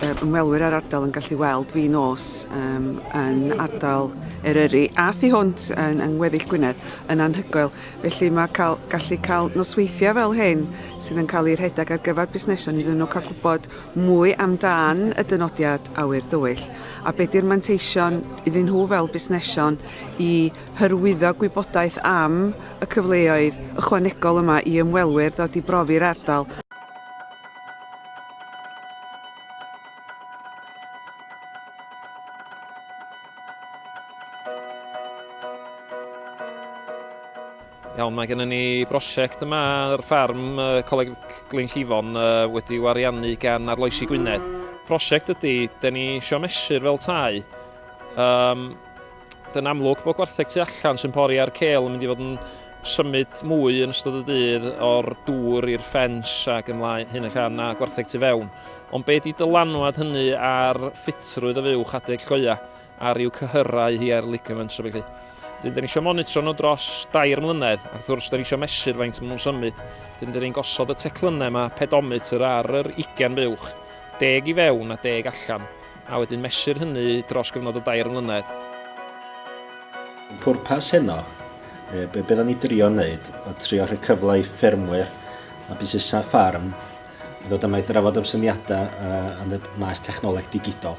ymwelwyr a'r ardal yn gallu weld fi nos um, yn ardal Eryri a thu hwnt yn, yng ngweddill Gwynedd yn anhygoel. Felly mae cael, gallu cael nosweithiau fel hyn sydd yn cael eu rhedeg ar gyfer busnesau iddyn nhw cael gwybod mwy amdan y dynodiad awyr dywyll a beth yw'r manteision iddyn nhw fel busnesion i hyrwyddo gwybodaeth am y cyfleoedd ychwanegol yma i ymwelwyr ddod i brofi'r ardal Iawn, mae gennym ni brosiect yma ar ffarm uh, Coleg Glyn Llifon uh, wedi wariannu gan Arloesi Gwynedd. Prosiect ydy, da ni eisiau mesur fel tai, um, Yn amlwg bod gwartheg tu allan sy'n pori ar cel yn mynd i fod yn symud mwy yn ystod y dydd o'r dŵr i'r ffens ac yn lai hyn ac anna gwartheg tu fewn. Ond be di dylanwad hynny ar ffitrwydd y fuwch adeg coia a rhyw cyhyrau hi ar ligaments a felly. Dyn, dyn ni eisiau monitro nhw dros dair mlynedd ac wrth gwrs dyn ni eisiau mesur faint maen nhw'n symud. Dyn, dyn ni'n gosod y teclynnau yma, pedometr ar yr 20 buwch, deg i fewn a deg allan. a wedyn mesur hynny dros gyfnod o dair mlynedd. Pwrpas heno, yy be' be' 'dan ni drio neud o trio rhoi cyfle i ffermwyr a busnesa' ffarm i ddod yma i drafod am syniada' yy yn y maes technoleg digidol.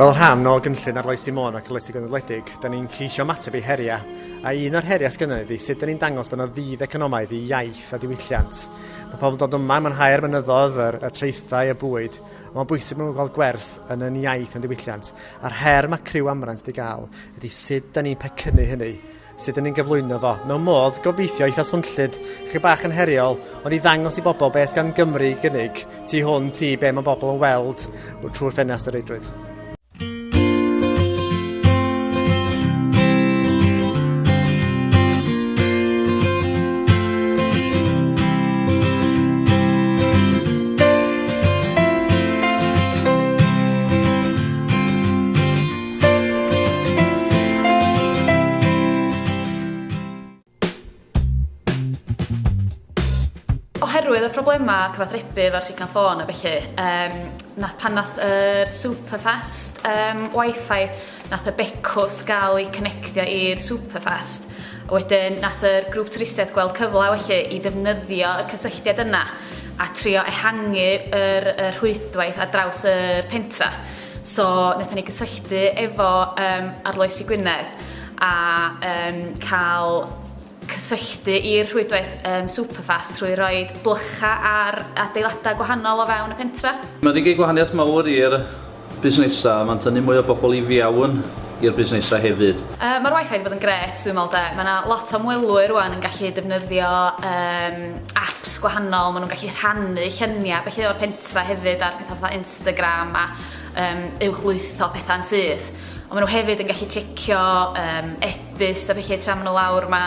Fel rhan o gynllun arloesi Môn ac arloesi gynadwledig, da ni'n ceisio mateb i heriau. A un o'r heriau sgynnau ydy sut da ni'n dangos bod yna fydd economaidd i iaith a diwylliant. Mae pobl yn dod yma, mae'n haer mynyddodd, yr, y traethau, y bwyd, ond mae'n bwysig bod nhw'n cael gwerth yn yn iaith yn diwylliant. A'r her mae criw Amrant di gael ydy sut da ni'n pecynnu hynny, sut da ni'n gyflwyno fo. Mewn modd, gobeithio eitha swnllyd, chydig bach yn heriol, ond i ddangos i bobl beth gan Gymru i gynnig tu hwn ti be mae bobl yn weld trwy'r ffenast o reidrwydd. oherwydd y problemau cyfathrebu efo'r signal ffôn a felly, um, na, pan nath yr Superfast um, wifi Nath y becws gael eu connectio i'r Superfest, a wedyn nath yr grŵp twristiaeth gweld cyfle felly i ddefnyddio y cysylltiad yna a trio ehangu yr, y rhwydwaith ar draws y pentra. So, nathon ni gysylltu efo um, Arloesi Gwynedd a um, cael cysylltu i'r rhwydwaith um, Superfast trwy roi blycha ar adeiladau gwahanol o fewn y pentra. Mae wedi gwneud gwahaniaeth mawr i'r busnesau, mae'n tynnu mwy o bobl i fewn i'r busnesau hefyd. Yy ma'r wifi 'di bod yn grêt dwi'n me'wl 'de. Ma' 'na lot o ymwelwyr rŵan yn gallu defnyddio yym aps gwahanol, ma' nhw'n gallu rhannu llynia felly o'r pentra hefyd ar petha fatha Instagram a yym uwchlwytho petha'n syth. Ond ma' nhw hefyd yn gallu tsiecio yym e-byst a felly tra ma' nhw lawr ma'